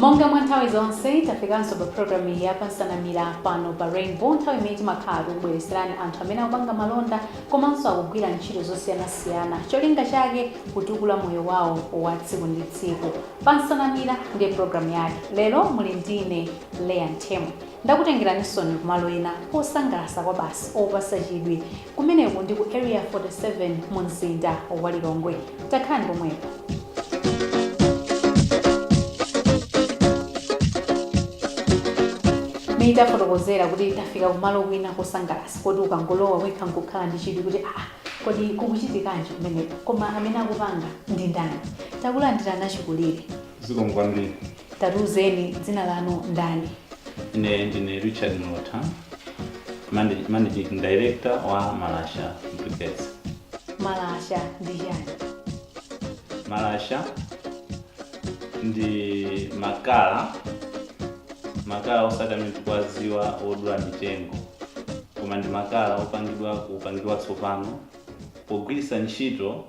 monga mwa nthawi zonse tafikanso pa programu iyi ya pansanamira pano pa rainbow nthawi imene timakhala tikukubweretserani anthu amene akupanga malonda komanso akugwira ntchito zosiyanasiyana cholinga chake kutukula moyo wawo wa tsiku ndi tsiku pansanamira ndiye programu yake lero muli ndine leya ntemo Ndakutengeraninsoni kumalo ena osangalatsa kwabasi opatsa chidwi. Kumeneko ndi ku Area 47 mu mzinda wa Lilongwe. Takhalani pomwepo. Nitafotokozera kuti tafika kumalo kwina kosangalatsa koti ukangolowa wekha nkukhala ndi chidwi kuti aa kodi kukuchitikanji kumeneko koma amene akupanga ndi ndani. Takulandirani achikulire. Zikomo kwambiri. Tatiuzeni dzina lanu ndani? Ine ndine Richard Mlotha, manag- managing director wa Malasha Briquettes. Malasha ndi chani? Malasha ndi makala makala osati amene tikuwadziwa odula mitengo koma ndi makala opangidwa kupangidwa tsopano pogwiritsa ntchito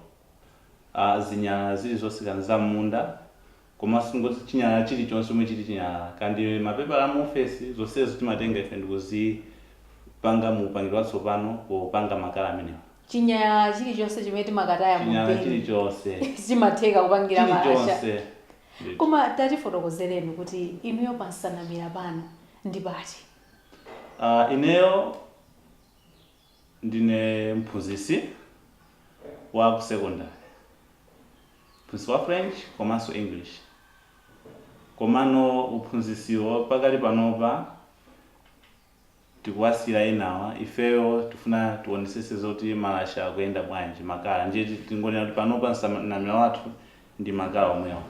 uh, zinyalala zilizonse za m'munda Komanso tingoti chinyalala chilichonse chomwe chili chinyalala, kaya ndi mapepala a mu ofesi, zonsezo timatenga ife ndikuzipanga mu upangiri watsopano popanga makala amenewa. Chinyalala chilichonse chimene timakataya mu bini, chilichonse, chimatheka kupangira malasha. Chilichonse. Koma tatifotokozereni kuti inuyo pa nsanamira pano ndi pati? Ineyo. Ndine mphunzitsi wa ku sekondale, mphunzitsi wa French komanso English komano uphunzitsiwo pakali panopa tikuwasiyira enawa, ifeyo tifuna tionetsetse zoti malasha akuyenda bwanji, makala, ndiye tingonena kuti panopa nsanamira wathu ndi makala omwewa.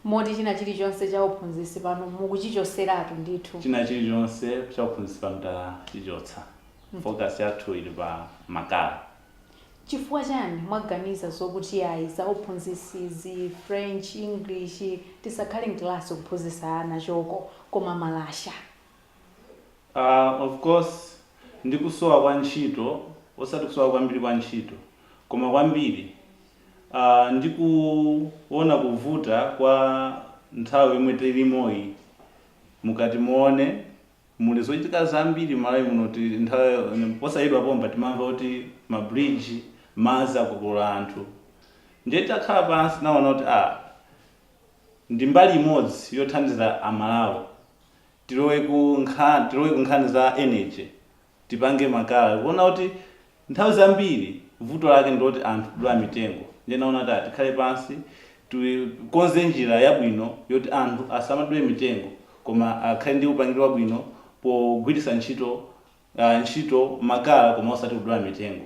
moti china chilichonse cha uphunzitsi pano mukuchichotseratu ndithu. china chilichonse cha uphunzitsi pano tachichotsa. focus yathu ili pa makala. Chifukwa chani mwaganiza zokuti ayi za uphunzitsi izi, French, English, tisakhale m'class kuphunzitsa ana choko koma malasha? Aaa of course ndi kusowa kwa ntchito, osati kusowa kwambiri kwa ntchito koma kwambiri Ndikuona kuvuta kwa nthawi yomwe tilimoyi mukati muone muli zochitika zambiri m'Malawi muno kuti nthawi posachedwa pompa timamva kuti ma bridge madzi akokolola anthu ndiye titakhala pansi tinaona kuti a ndi mbali imodzi yothandiza a Malawi tilowe ku nkhan tilowe ku nkhani za energy tipange makala kuona kuti nthawi zambiri vuto lake ndiloti anthu kudula mitengo ndiye naona kuti ah tikhale pansi tikonze njira yabwino yoti anthu asamadule mitengo koma akhale ndi upangili wabwino pogwiritsa ntchito ah ntchito makala koma osati kudula mitengo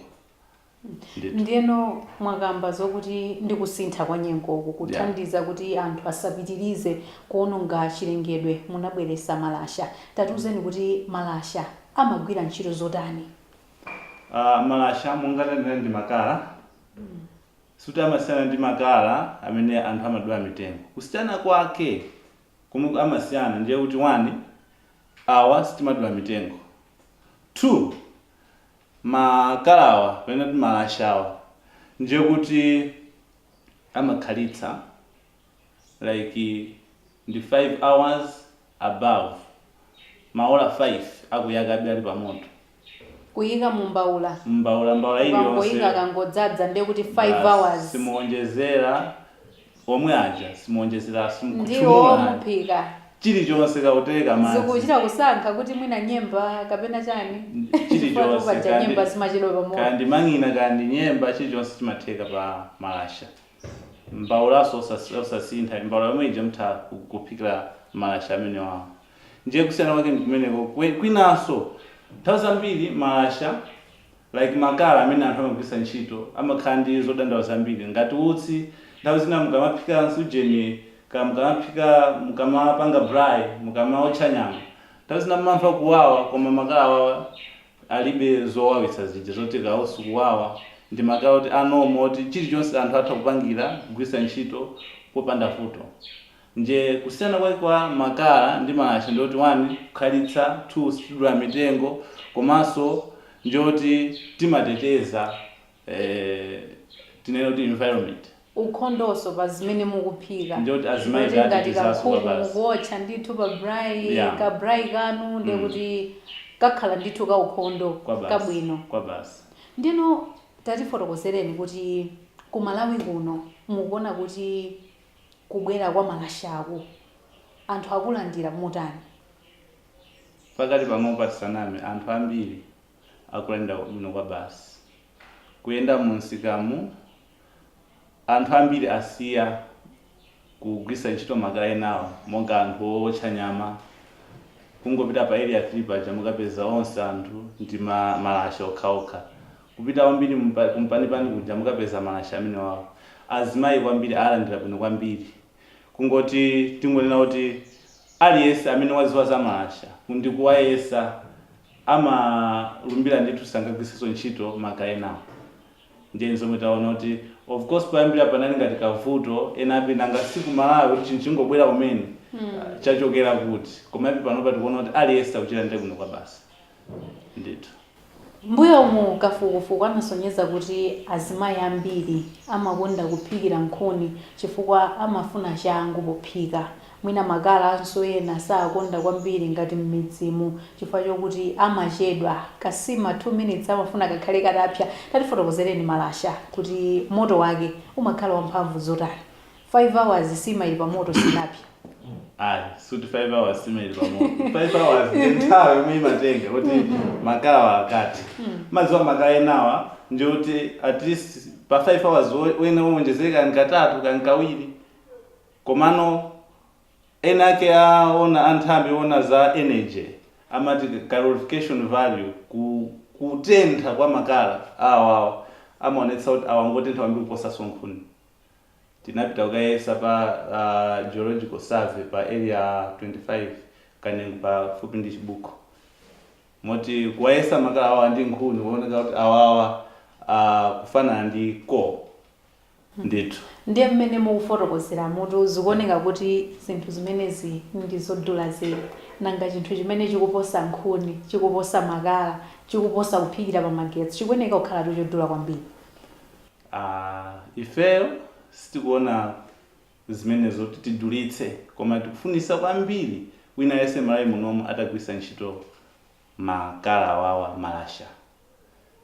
Ndithu. Ndiyeno mwakamba zokuti ndi kusintha kwa nyengoku kuthandiza kuti anthu asapitilize kuononga chilengedwe munabweresa malasha. Tatiuzeni kuti malasha amagwira ntchito zotani? Aaa malasha monga tanena ndi makala sikuti amasiyana ndi makala amene anthu amadula mitengo. Kusiyana kwake komwe amasiyana ndiye kuti one awa sitimadula mitengo two Makalawa kapena timalashawa ndiye kuti amakhalitsa like ndi 5 hours above, maola 5 akuyakabe ali pamoto. Kuyika mu mbaula, Mbaula, mbaula iliyonse. mukangoyika akangodzadza ndiye kuti 5 hours basi. simuonjezera. omwe aja simuonjezera ndiwo simukhutchumula ayi muphika chilichonse kaya tea kaya madzi zikuchita kusankha kuti mwina nyemba kapena chani chifukwatu paja nyemba zimachedwa pa moto chilichonse kaya ndi mang'ina kaya ndi nyemba chilichonse chimatheka pa malasha mbaulaso osas- osasintha mbaula yomwe ija mutha ku- kuphikira malasha amenewawo ndiye kusiyana kwake ndikumeneko Kwe- kwinaso nthawi zambiri malasha like makala amene anthu amagwiritsa ntchito amakhala ndi zodandaula zambiri ngati utsi nthawi zina mukamaphika nsujeni kaya mukamaphika mukamapanga braai mukamaotcha nyama nthawi zina mmamva kuwawa koma makala awawa alibe zowawitsa zija zoti kaya utsi ukuwawa ndi makala oti a normal oti chilichonse anthu atha kupangira kugwiritsa ntchito popanda vuto Ndiye kusiyana kwake kwa makala ndi malasha ndi yoti 1 kukhalitsa, 2 sitidula mitengo komanso ndi yoti timateteza tinene kuti environment. ukhondoso pa zimene mukuphika. Ndiye kuti azimayi Ndiye kuti ngati kankhuku tatetezanso kwabasi. mukuotcha ndithu pa braai, Yeah. ka braai kanu ndiye Mm. kuti kakhala ndithu ka ukhondo, Kwabasi. kabwino. Kwabasi. Ndeno tatifotokozereni kuti ku Malawi kuno mukuona kuti kubwera kwa malashaku anthu akulandira motani? Pakadali panopa tisaname, anthu ambiri akulandira bwino kwabasi. Kuyenda mumsikamu, anthu ambiri asiya kugwiritsa ntchito makala enawo monga anthu owotcha nyama. Kungopita pa Area 3 paja mukapeza onse anthu ndi malasha okhaokha. Kupita kwambiri ku mpanipani kuja mukapeza malasha amenewawa. Azimayi kwambiri alandira bwino kwambiri. Kungoti tingonena kuti aliyense amene wadziwa za malasha ndi kuwayesa amalumbira ndithu sangagwiritsenso ntchito makala enawa. Ndiye n'zomwe taona kuti of course poyambira panali ngati kavuto ena ati nanga si ku Malawi kuti chinthu chingobwera kumene chachokera kuti. Komabe panopa tikuona kuti aliyense akuchita ndiye bwino kwabasi. ndithu. M'mbuyomu kafukufuku anasonyeza kuti azimayi ambiri amakonda kuphikira nkhuni chifukwa amafuna changu pophika. Mwina makala anso ena sakonda kwambiri ngati m'midzimu chifukwa chokuti amachedwa. Kansima 2 minutes amafuna kakhale katapsya. Tatifotokozereni malasha kuti moto wake umakhala wamphamvu zotani? 5 hours nsima ili pamoto sinapsye ayi sikuti 5 hours nsima ili pamoto 5 hours ndi nthawi yomwe imatenga kuti mm-hmm. makala awa akathe mm. mumadziwa makala enawa ndi kuti at least pa 5 hours mwina wawonjezeka katatu kaya kawiri komano ena ake aona anthambi ona za energy amati calorific value ku kutentha kwa makala awawa amaonetsa kuti awa ngotentha kwambiri kuposanso nkhuni Tinapita kukayesa pa geological survey pa area 25 Kanengo pafupi ndi Chibuku moti kuwayesa makala awa ndi nkhuni kuoneka kuti awawa akufanana ndi coal ndithu. Ndiye mmene mukufotokozeramutu zikuoneka kuti zinthu zimenezi ndi zodula zedi. Nanga chinthu chimene chikuposa nkhuni, chikuposa makala, chikuposa kuphikira pamagetsi chikuoneka kukhalatu chodula kwambiri. Aaah ifeyo sitikuona zimenezo kuti tidulitse koma tikufunitsa kwambiri wina aliyense mmalawi munomu atagwiritsa ntchito makala awawa, malasha,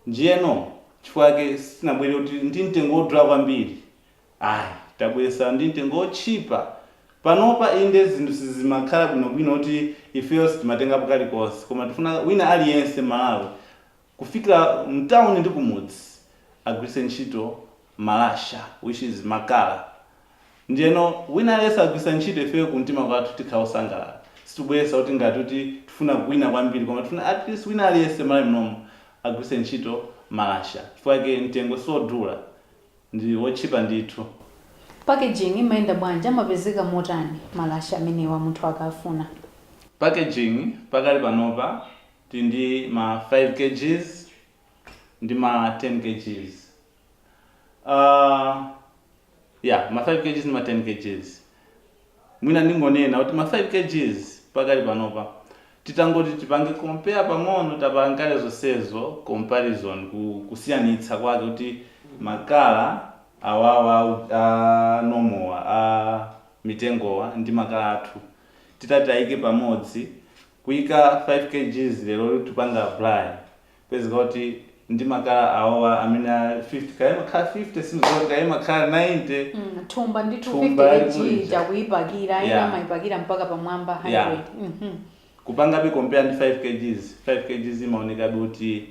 ndiyeno chifukwa chake sitinabwere kuti ndi mtengo wodula kwambiri ayi tabweretsa ndi mtengo wotchipa panopa inde zinthu sizimakhala bwinobwino kuti ifeyo sitimatengapo kalikonse koma tikufuna wina aliyense mmalawi kufikira mtauni ndi kumudzi agwiritse ntchito malasha which is makala ndiyeno wina aliyense akagwiritsa ntchito ifeyo kumtima kwathu tikhala osangalala sitikubweretsa kuti ngati kuti tifuna kuwina kwambiri koma tifuna at least wina aliyense m'malawi munomu agwiritse ntchito malasha chifukwa chake mtengo siodula ndi wotchipa ndithu. Packaging imayenda bwanji? Amapezeka motani malasha amenewa munthu akafuna? Packaging pakali panopa Tili ndi ma 5 kgs ndi ma 10 kgs aah yeah ma 5 kgs ndi ma 10 kgs mwina ndingonena kuti ma 5 kgs pakali panopa titangoti tipange compare pang'ono tapangakale zonsezo comparison kusiyanitsa kwake kuti makala awawa a normal wa a mitengowa ndi makala athu titati taike pamodzi kuika 5 kgs lero titapanga apply kupezeka kuti ndi makala awowa amene a 50 kaya imakhala 50 sindidziwa kuti kaya imakhala 90 mm, thumba ndithu Thumba 50 kg limulija. ija kuipakira ena Yeah. amaipakira mpaka pamwamba 100 Yeah. Mhm. kupangabe compare ndi 5 kgs 5 kgs imaonekabe kuti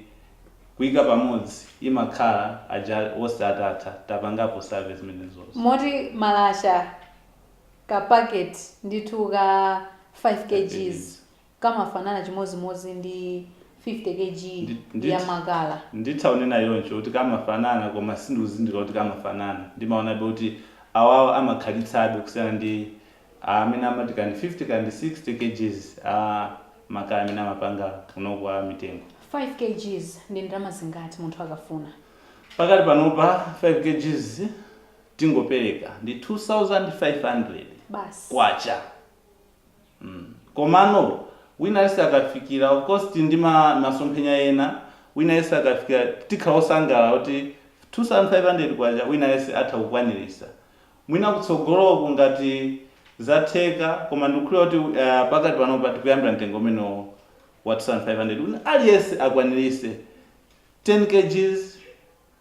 kuika pamodzi imakhala aja onse atatha tapangapo survey zimenezozo moti malasha Ka packet ndithu ka 5 kgs kamafanana chimodzimodzi ndi 50 kg Ndi- ndithu. ya makala. nditha kunena choncho kuti kamafanana koma sindikuzindikira kuti kamafanana ndimaonabe kuti awawa amakhalitsabe kusiyana ndi ah, amene amati kandi 50 kandi 60 kgs a makala amene amapanga kuno kwa mitengo 5 kgs ndi ndalama zingati munthu akafuna? pakati panopa 5 kgs tingopereka ndi MK2500 basi. mm komano wina aliyese akafikira of course tili ndi masomphenya ena wina aliyese akafikira tikhala osangalala kuti MK2500 wina aliyese atha kukwanilisa mwina kutsogoloku ngati zatheka koma ndikukhulupilira kuti aah pakati panopa tikuyambira mtengo umenewo wa MK2500 wina aliyese akwanilise 10 kgs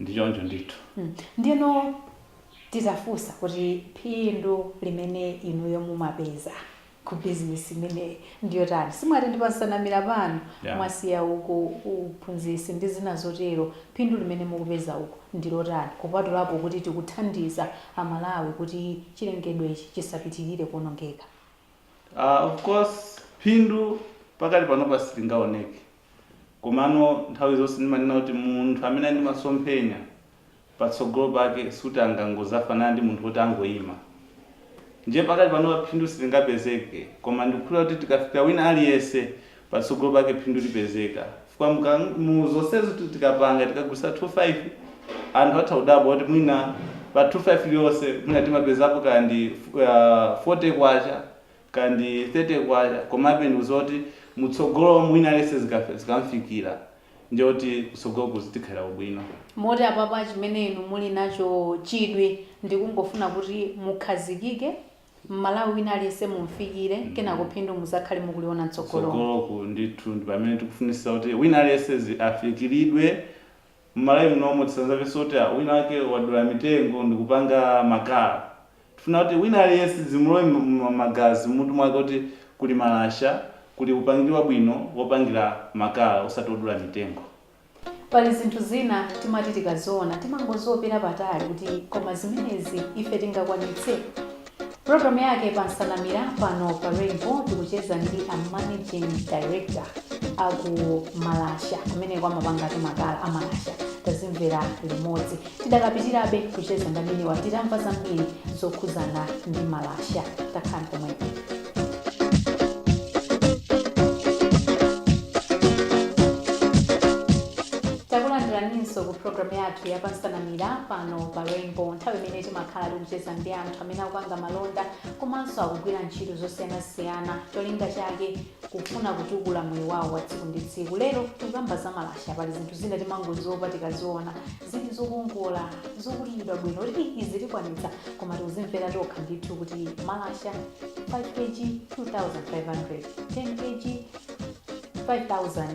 Ndi choncho ndithu. Ndiyeno titafunsa kuti phindu limene inuyo mumapeza ku bizinesi imeneyi ndi yotani, simwati ndi pa nsanamira pano Yeah. mwasiya uko uphunzitsi ndi zina zotero, phindu limene mukupeza uku ndi lotani kupatulapo kuti tikuthandiza Amalawi kuti chilengedwechi chisapitirire kuonongeka? Ah, of course, phindu pakati panopa silingaoneke Komano nthawi zonse ndimanena kuti munthu amene ali ndi masomphenya patsogolo pake sikuti angangozafanana ndi munthu woti angoima. Ndiye pakati panopa phindu silingapezeke koma ndikukhulupirira kuti tikafika wina aliyense patsogolo pake phindu lipezeka chifukwa muka, mu zonsezi kuti tikapanga tikagulitsa 2 5 anthu atha kudabwa kuti mwina pa 2 5 iliyonse mwina timapezapo kaya ndi uh, 40 kwacha kaya ndi K30 komabe ndikuziwa kuti mutsogolomu wina aliyense zikamfikila ndiye kuti kutsogoloku zitikhalire ubwino. Moti apapa chimene inu muli nacho chidwi ndikungofuna kuti mukhazikike, M'malawi wina aliyense mumfikire kenako phindu muzakhale mukuliona mtsogolomu. Kutsogoloku ndithu ndipamene tikufunitsitsa kuti wina aliyense afikilidwe Mmalawi munomu tisazamvenso kuti wina wake wadula mitengo ndikupanga makala. Tifuna kuti wina aliyense zimulowe mmagazi mmutu mwake kuti kuli malasha, kuli upangili wabwino wopangira makala osati wodula mitengo. Pali zinthu zina timati tikaziona timangoziopera patali kuti koma zimenezi ife tingakwanitse? Programu yake ya pa Nsanamira pano pa Rainbow tikucheza ndi a managing director aku Malasha kumeneko amapanga ati makala a Malasha tazimvera limodzi tidakapitirabe kucheza ndi amenewa titamva zambiri zokhuzana ndi Malasha takhalani pomwepo takulandiraninso ku programu yathu ya pansanamira pano pa Rainbow nthawi imene timakhala tikucheza ndi anthu amene akupanga malonda komanso akugwira ntchito zosiyanasiyana cholinga chake kufuna kutukula moyo wawo wa tsiku ndi tsiku lero tikukamba za malasha pali zinthu zina timangoziwopa tikaziona zili zokongola zokutiridwa bwino kuti "Ih, izi tikwanitsa koma tikuzimvera tokha ndithu kuti malasha 5 kg 2500 10 kg 5000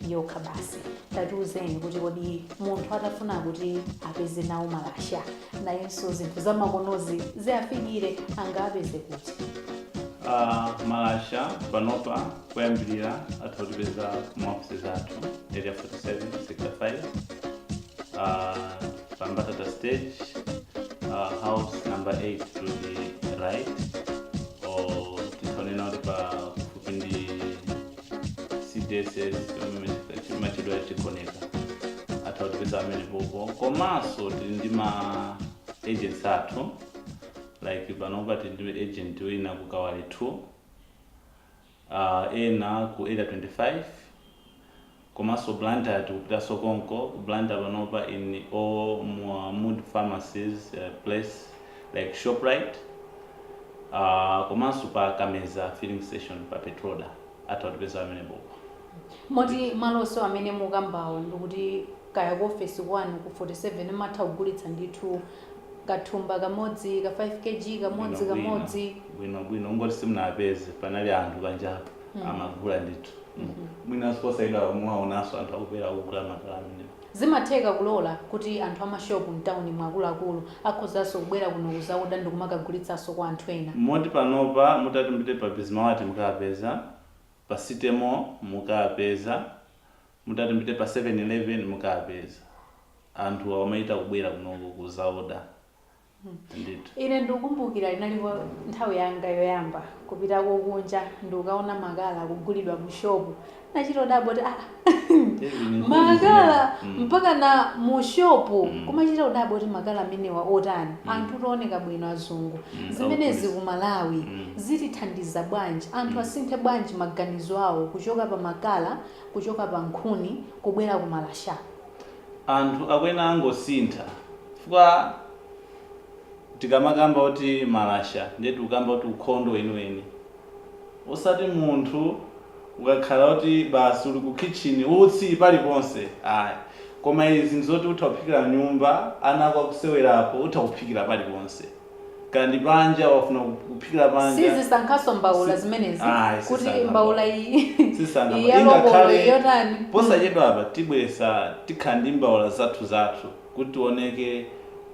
yokha basi tatiuzeni kuti kodi munthu atafuna kuti apeze nawo malasha nayenso zinthu zamakonozi ziafikire angapeze kuti Ah, malasha panopa kuyambirira atha kutipeza maofesi athu area 47 sector 5 ah, pa mbatata stage ah, house number 8 to the right or tithaonena kuti pa kufupi ndi cdss imatchedwa chigoneka atha kutipeza pamenepopo komanso tili ndi ma agents athu like panopa tili ndi agent wina ku kawale 2 uh, ena ku area 25 komanso blantyre tikupitanso konko ku blantyre panopa in all mood pharmacies uh, place like Shoprite uh, komanso pa Kameza filling station pa Petroda atha kutipeza pamenepopo. Moti maloso amene mukambawo ndikuti kaya ku office kwanu ku 47 matha kugulitsa ndithu kathumba kamodzi ka 5 kg kamodzi Bwino, bwino. kamodzi bwino bwino kungoti simunapeze panali anthu panjapa amagula ndithu mwinanso posayenda muwaonanso anthu akubwera kugula makala amenewo Zimatheka kulola kuti anthu a mashopu mtaunimu akuluakulu akhozanso kubwera kuno kudzaoda ndikumakagulitsanso kwa anthu ena. Moti panopa mutati mupite pa Bismart mukapeza, pa City Mall mukapeza, mutati mupite pa 7-11 mukapeza. Anthu amachita kubwera kuno kudzaoda. Ndithu. Ine ndikukumbukira inalipo nthawi yanga yoyamba kupita kunja ndikukaona makala akugulidwa mu shopu. Ndinachita kudabwa kuti aa, makala Mm. mpaka na mu shopu. Mm. Kumachita kudabwa kuti makala amenewa otani? Mm. Anthu ooneka bwino azungu. Mm, Zimenezi ku Malawi Mm. zitithandiza bwanji? Anthu Mm. asinthe bwanji maganizo awo kuchoka pa makala, kuchoka pa nkhuni kubwera ku malasha? Anthu akuyenera kungosintha chifukwa tikamakamba kuti malasha ndiye tikukamba kuti ukhondo weniweni osati munthu ukakhala kuti basi uli ku khitchini utsi paliponse ayi koma izi ndizoti utha kuphikira m'nyumba ana ako akusewerapo utha kuphikira paliponse. Kaya ndi panja wafuna kup- kuphikira panja. sizisankhanso mbaula Si- zimenezi Ayi, kuti sisankha mbaula mbaula. iyi Sisankha iyi mbaula. ya lobolo Ingakhale iyi yotani posachedwa apa tibweretsa tikhala ndi mbaula zathu zathu kuti tioneke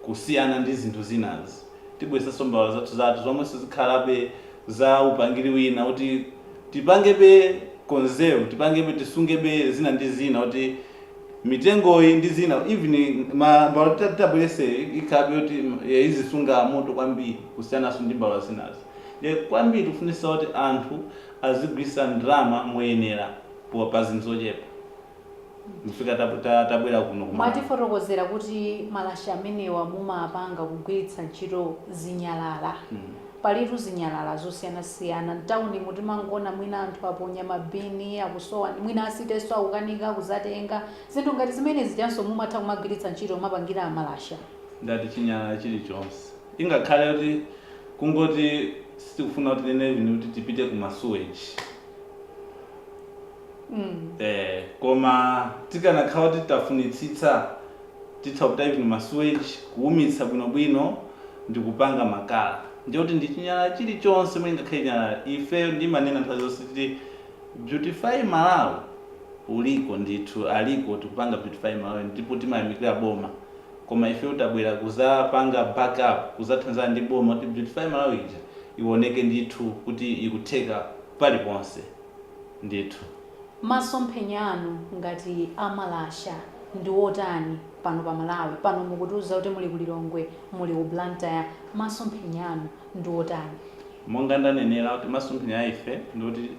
kusiyana ndi zinthu zinazi tibweretsanso mbaula zathu zathu zomwenso zikhalabe za upangiri wina kuti tipangebe conserve tipangebe tisungebe zina ndi zina kuti mitengoyi ndi zina even mbaula titabweretseyi ikhalabe yoti mm, eh, izisunga moto kwambiri kusiyananso ndi mbaula zinazi nde kwambiri tikufunitsitsa kuti anthu azigwiritsa ndalama moyenera po- pa zinthu zochepa nchifukwa tab- ta- tabwera kuno. mwatifotokozera kuti malasha amenewa mumapanga kugwiritsa ntchito zinyalala Mm. Palitu zinyalala zosiyanasiyana mtaunimu timangoona mwina anthu aponya mabini akusowa nde mwina a City nso akukanika kuzatenga. Zinthu ngati zimene zijanso mumatha kumagwiritsa ntchito kumapangira malasha. Ndati chinyalala chilichonse. Ingakhale kuti kungoti sitikufuna kuti tinene even kuti tipite ku ma suweji. Mm. Eh, koma tikanakhala kuti tafunitsitsa titha kutapa even masuweji kuumitsa bwinobwino ndi kupanga makala ndiye kuti ndi chinyalala chilichonse chomwe ngakhale chinyalala ifeyo ndimanena nthawi zonse kuti beautify malawi uliko ndithu aliko tikupanga beautify malawi ndipo timayamikira boma koma ifeyo tabwera kuzapanga backup kuzathandizana ndi boma kuti beautify malawi ija iwoneke ndithu kuti ikutheka paliponse ndithu. Masomphenya anu ngati a Malasha ndi otani pano pa Malawi? Pano mukutiuza kuti muli ku Lilongwe, muli ku Blantyre, masomphenya anu ndi otani? Monga ndanenera kuti masomphenya a ife ndi oti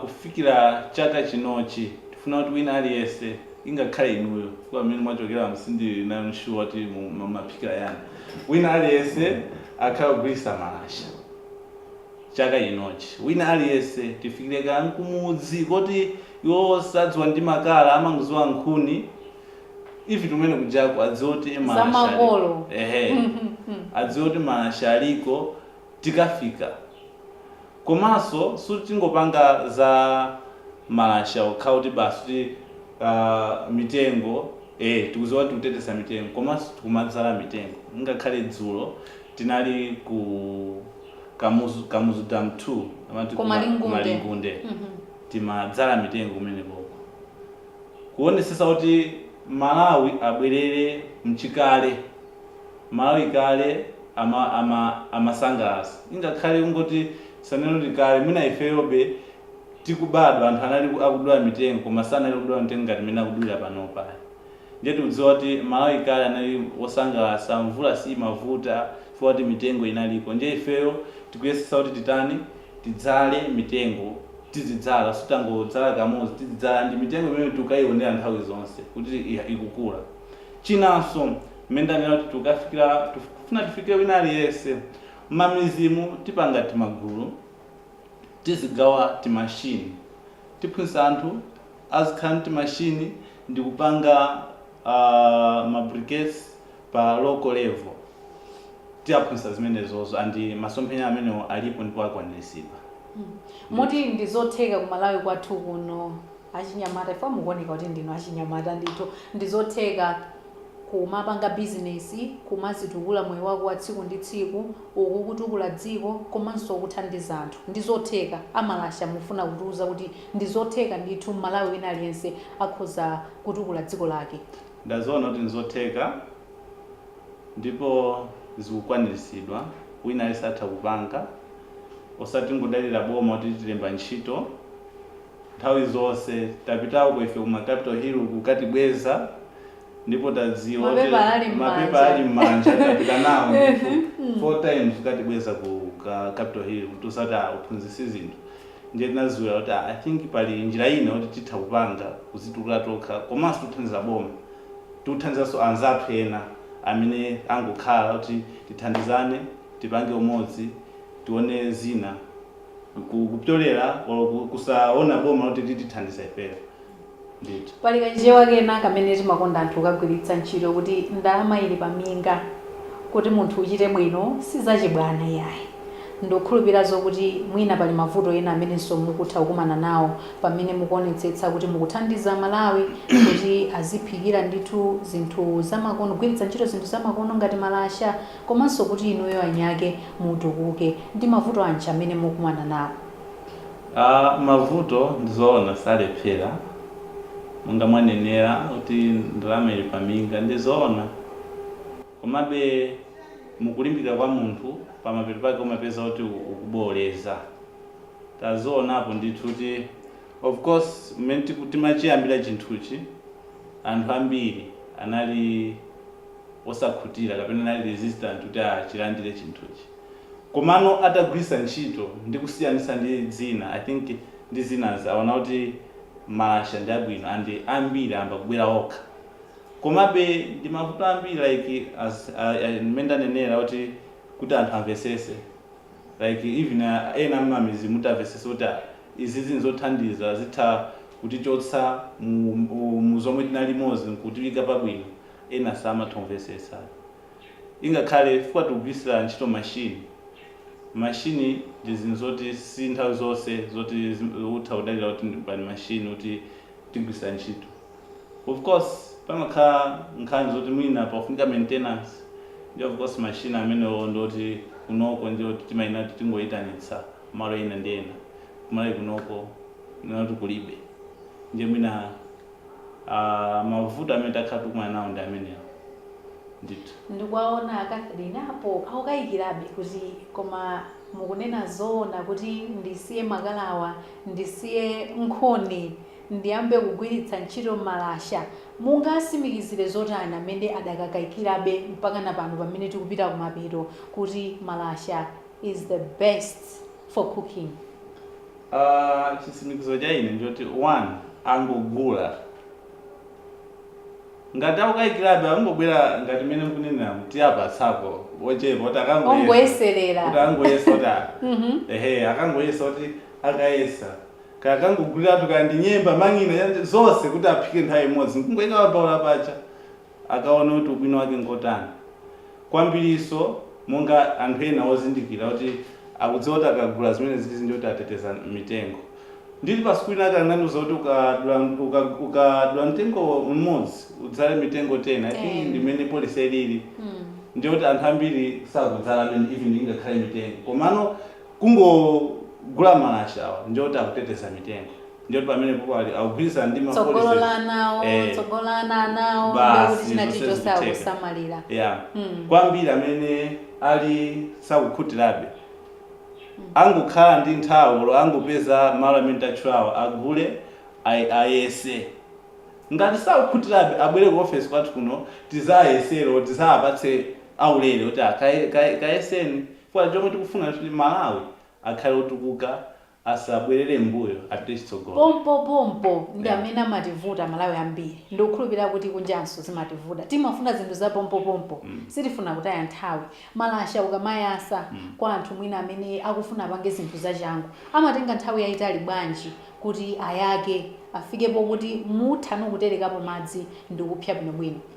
kufikira chaka chinochi tifuna kuti wina aliyense ingakhale inuyo chifukwa kumene mwachokeraku sindili nayo sure kuti mumaphikira chani, wina aliyense akhale akugwiritsa Malasha. chaka chinochi wina aliyese tifikile kaya nkumudzi koti iwo sadziwa ndi makala amangoziwa nkhuni ife tikumene kujaku adziwe kuti malasha aliko ehe adziwe kuti malasha aliko tikafika komaso suti tingopanga za malasha okhawo kuti basi kuti uh, mitengo eh tikuziwa kuti tikutetesa mitengo komaso tikumadzala mitengo ngakhale dzulo tinali ku Kamuzu, Kamuzu Dam 2 amati Ku kuma, Malingunde. kumalingunde Mhm. timadzala mitengo kumenekoko kuonesesa kuti malawi abwerere mchikale malawi kale ama, ama, amasangalasa ingakhale kungoti tisanene kuti kale mwina ifeyobe tikubadwa anthu anali ku- akudula mitengo koma sanali kudula mitengo ngati mmene akudulira panopa Ndiye tikudziwa kuti Malawi kale anali wosangalasa, mvula siyimavuta chifukwa choti mitengo inaliko. Ndiye ifeyo tikuyesetsa kuti titani, tidzale mitengo, tizidzala osati tangodzala kamodzi, tizidzala ndi mitengo imene tikukayionera nthawi zonse kuti ikukula. Chinanso mmene ndanenera kuti tikukafikira, tikufuna tifike wina aliyense. Mmamidzimu tipanga timagulu, tizigawa timashini, tiphunzitsa anthu azikhala ndi timashini. ndikupanga ma briquettes pa local level tiaphunzitsa zimenezozo and masomphenya amenewo alipo ndipo akwaniritsidwa ndithu. Moti ndi zotheka ku Malawi kwathu kuno achinyamata chifukwa mukuoneka kuti ndinu achinyamata ndithu ndi zotheka kumapanga business kumazitukula moyo wako wa tsiku ndi tsiku uku ukutukula dziko komanso ukuthandiza anthu ndi zotheka a Malasha mufuna kutiuza kuti Ndizotheka ndithu mmalawi wina aliyense akhoza kutukula dziko lake. Ndaziona kuti nzotheka ndipo zikukwanilisidwa wina aliyese atha kupanga osati tingodalila boma kuti litilembe ntchito nthawi zose tapitako ife ku ma capital hill uku kukatibweza ndipo tadziwa kuti Mapepala ali mmanja. mapepala ali mmanja tapita nawo ndithu 4 times kukatibweza ku capital hill kutiuza kuti aa uphunzisi zinthu. Ndiye tinaziwira kuti I think pali njira ina yoti titha kupanga kuzitukula tokha komanso tikuthandiza boma, tikuthandizanso anzathu ena amene angokhala kuti tithandizane tipange umodzi tione zina kupyolera kusaona boma kuti litithandiza ifeyo. Ndithu. Pali kachichewa kena kamene timakonda anthu kukagwiritsa ntchito kuti ndalama ili pa minga. Kuti munthu uchite bwino si zachibwana iyayi. Ndikukhulupirira zokuti mwina pali mavuto ena amenenso mukutha kukumana nawo pamene mukuonetsetsa kuti mukuthandiza aMalawi kuti aziphikira ndithu zinthu zamakono, kugwiritsa ntchito zinthu zamakono ngati malasha komanso kuti inuyo eniake mutukuke. Ndi mavuto anji amene mukumana nawo? Aaa mavuto ndizoona salephera monga mwanenera kuti ndalama ili paminga ndizoona komabe mukulimbika kwa munthu pamapeto pake umapeza kuti ukubowoleza tazionapo ndithu kuti of course mmene timachiyambira chinthuchi anthu ambiri anali osakhutira kapena anali resistant kuti achilandire chinthuchi. komano atagwirisa ntchito ndi kusiyanisa ndi zina i think ndi zinazi awona kuti malasha ndi abwino and ambiri ayamba kubwera okha komabe ndi mavuto ambiri like as mmene ndanenera kuti kuti anthu amvesese like even ena mmamizimu kuti amvesese kuti izizi nzothandiza zitha kutichotsa mu zomwe tinalimozi nkutiika pabwino ena samatha kumvesesa. ingakhale chifukwa tikugwiritsira ntchito machine machine ndi zinthu zoti si nthawi zonse zoti utha kudalira kuti ndi machine kuti tigwiritsira ntchito of course pamakhala nkhani zoti mwina pakufunika maintenance ndiye of course machine amenewo ndioti kunoko ndi oti timayenera kuti tingoyitanitsa malo ena ndi ena kuMalawi kunoko ndi oti kulibe ndiye mwina Aaa mavuto amene takhala tikukumana nawo ndi amenewo ndithu. Ndikuwaona a Catherine apo akukayikirabe kuti koma mukunena zoona kuti ndisiye makalawa, ndisiye nkhuni ndiyambe kugwiritsa ntchito malasha? Mungasimikizire zotani amene adakakayikirabe mpakana pano pamene tikupita kumapeto kuti malasha is the best for cooking? Ah, chisimikizo cha ine nchoti iwo angogula ngati akukayikirabe angobwera ngati mmene mukunenera kuti apatsako wochepa kuti akangoyesa Ongoyeserera. kuti angoyesa kuti a- Mhm. ehe akangoyesa kuti akayesa kaya akangoguliratu kaya ndi nyemba mang'ina yani zonse kuti aphike nthawi imodzi nkungoyika pa mbaula pa cha akaona kuti ubwino wake ngotani kwambirinso monga anthu ena wozindikira kuti akudziwa kuti akagula zimenezizi ndiye kuti ateteza mitengo ndili pa sukulu inayake anandiuza kuti ukadula uka, ukadula mtengo mmodzi udzale mitengo 10 i think ndi mmene policy ilili ndiye kuti anthu ambiri sakudzala amene even ingakhale mitengo komano kungogula malashawa ndiye kuti akuteteza mitengo ndiye kuti pamenepopo ali akugwirizana ndi tsogolo la ana awo Eh, tsogolo la ana awo ndi kuti basi china chilichonse akusamalira yeah. Mm. kwambiri amene ali sakukhutirabe angokhala ndi nthawi olo angopeza malo amene tatchulawo agule ay- ayese ngati sakukhutirabe abwere ku office kwathu kuno tizayesero tizawapatse aulere kuti kayeseni Chifukwa chomwe tikufuna kuti Malawi akhale otukuka asabwelele m'mbuyo apite chitsogolo. Pompo pompo ndi amene amativuta amalawi ambiri ndikukhulupilira kuti kunjanso zimativuta timafuna zinthu za pompo pompo sitifuna kutaya nthawi malasha ukamayasa kwa anthu mwina amene akufuna apange zinthu zachangu amatenga nthawi yaitali bwanji kuti ayake afike pokuti mutha nokuterekapo madzi ndikupsa bwinobwino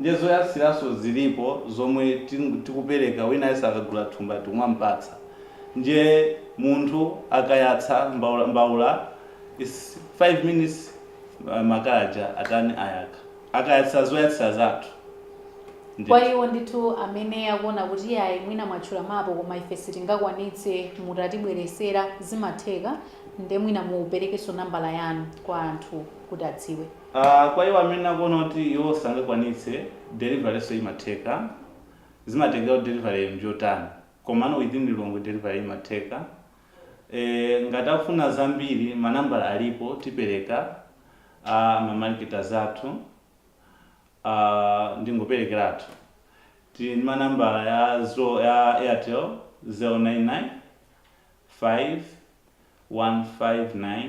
Ndiye zoyatsiranso zilipo zomwe tikupereka wina aliyense akagula thumba tikumampatsa ndiye munthu akayatsa mbaula is 5 minutes makala aja atani ayaka akayatsa zoyatsira zathu ndithu. Kwa iwo ndithu amene akuona kuti iyayi mwina mwatchulamapo koma ife sitingakwanitse mutatibweresera zimatheka nde mwina muperekenso nambala yanu kwa anthu kuti adziwe. Kwa iwo amene akuona kuti iwo sangakwanitse, deliveryso imatheka. Zimatengera kuti deliveryyo njotani. Komano within Lilongwe delivery imatheka. Eeh ngati akufuna zambiri manambala alipo tipereka a ma marketers athu. Ndingoperekeratu. Tili ndi manambala ya zo, ya Airtel 099 5 1 5 9.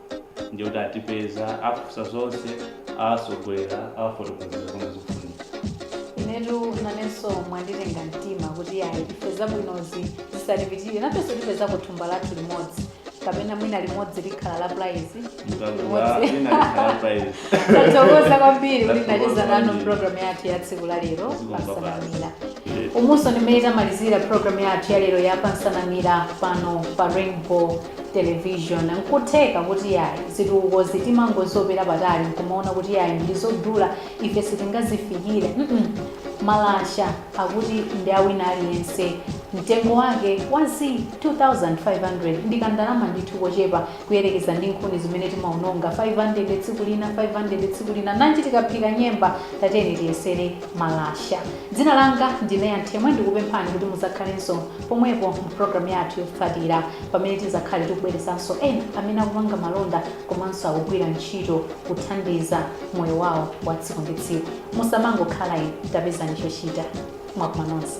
ndiye kuti atipeza afunsa zonse awatsogolera awafotokozera zomwe zikufunika inetu nanenso mwanditenga mtima kuti ayi ife zabwinozi zisatipitirire nafenso tipeza kathumba kathu limodzi kapena mwina limodzi likhala la prize tathokoza kwambiri kuti ndacheza nanu programu yathu ya tsiku la lero pansanamira umunso ndimene tamalizira programu yathu ya lero ya pansanamira pano pa rainbow television nkutheka kuti yayi zitukukozi timangozopera patali nkumaona kuti yayi ndizodula ife sitingazifikire mm -mm. malasha akuti ndi awina aliyense mtengo wake wa z 2500 ndi kandalama ndithu kochepa kuyerekeza ndi nkhuni zimene timaononga 500 tsiku lina 500 tsiku lina nanji tikaphika nyemba tateni tiyesere malasha dzina langa ndine Yanthemwe ndikupemphani kuti muzakhalenso pomwepo mu programu yathu yotsatira pamene tidzakhale tikubweretsanso ena amene akupanga malonda komanso akugwira ntchito kuthandiza moyo wawo wa tsiku ndi tsiku musamangokhala inu tapezani chochita mwaswera nonse